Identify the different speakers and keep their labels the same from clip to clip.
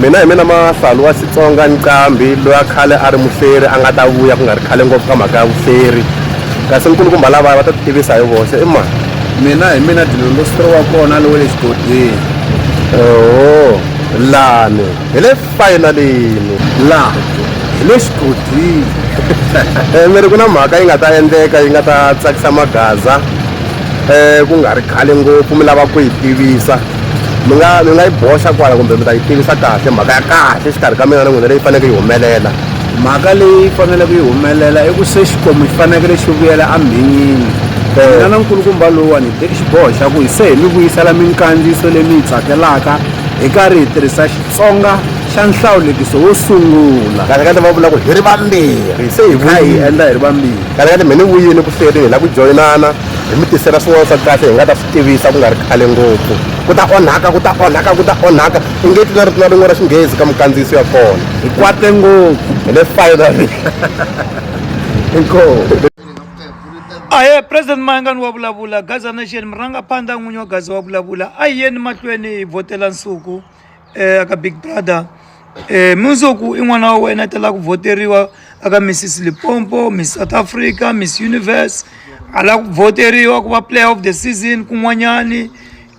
Speaker 1: Mina hi mina Mahlalu wa Xitsonga Nqambi loyi a khale a ri muhleri a nga ta vuya ku nga ri khale ngopfu ka mhaka ya vuhleri kasi nkulukumba lavaya va ta titivisa hi voxe i mani mina hi mina
Speaker 2: dilongo sitro wa kona lowe le xigodini oho
Speaker 1: lani hi le fayinalini la hi
Speaker 2: le xigodini eh,
Speaker 1: mi ri ku na mhaka yi nga ta endleka yi nga ta tsakisa magaza um ku nga ri khale ngopfu mi lava ku yi tivisa mi nga mi nga yi boxa kwala kumbe mi ta yi tivisa kahle mhaka ya kahle exikarhi ka mina na n'wina leyi faneleke yi humelela mhaka leyi
Speaker 2: faneleke yi humelela i ku se xikwembu xi fanekele xi vuyela amhinyini mina na nkulukumba lowuwani hi teki xiboho xa ku hi se hi mi vuyisela minkandziyiso leyi mi yi tsakelaka hi karhi hi tirhisa xitsonga xa nhlawulekiso wo sungula kahle kahle va vula ku hi
Speaker 1: ri vambirhi se hi kha hi endla hi ri vambirhi
Speaker 2: kahle kahle mi ni vuyini ku
Speaker 1: hlwerini hi lava ku joyinana hi mi tisela swin'wana swa kahle hi nga ta tivisa ku nga ri khale ngopfu ku ta onhaka ku ta onhaka ku ta onhaka i nge tlula ri tlula rin'we ra xinghezi ka mukandziyiso ya kona hi kwate ngopfu
Speaker 2: hi le finally
Speaker 1: inkomu
Speaker 3: ahe president mayangani wa vulavula gaza nation murangaphandla n'winyi wa gaza wa vulavula a hi yeni mahlweni hi vhotela nsuku eh, aka big brother eh, munzoku i n'wana wa wena tela ku voteriwa aka missis lipompo miss south africa miss universe a la ku voteriwa ku va player of the season kun'wanyani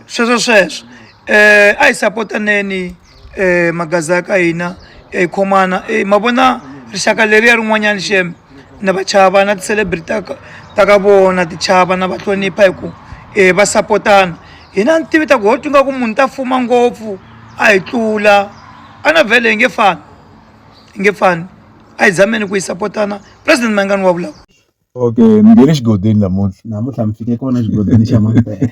Speaker 3: sweswo sweswo eh, a hi sapotaneni eh, magaza ya ka hina hi khomana eh, ma vona rixaka leriya rin'wanyani xeme na va chava na ti-celebrity ta ka ta ka vona ti chava na va hlonipha hi ku um va sapotana hina ni tivi ta ku ho twinga ku munhu ta fuma ngopfu a hi tlula a na vhele hi nge fani hi nge fani a hi zameni ku yi sapotana president mayingani wa vulavula okay mi
Speaker 2: nge le
Speaker 4: xigodini
Speaker 2: namuntlha namuntlha mi fike
Speaker 4: kona
Speaker 2: xigodini xa mapele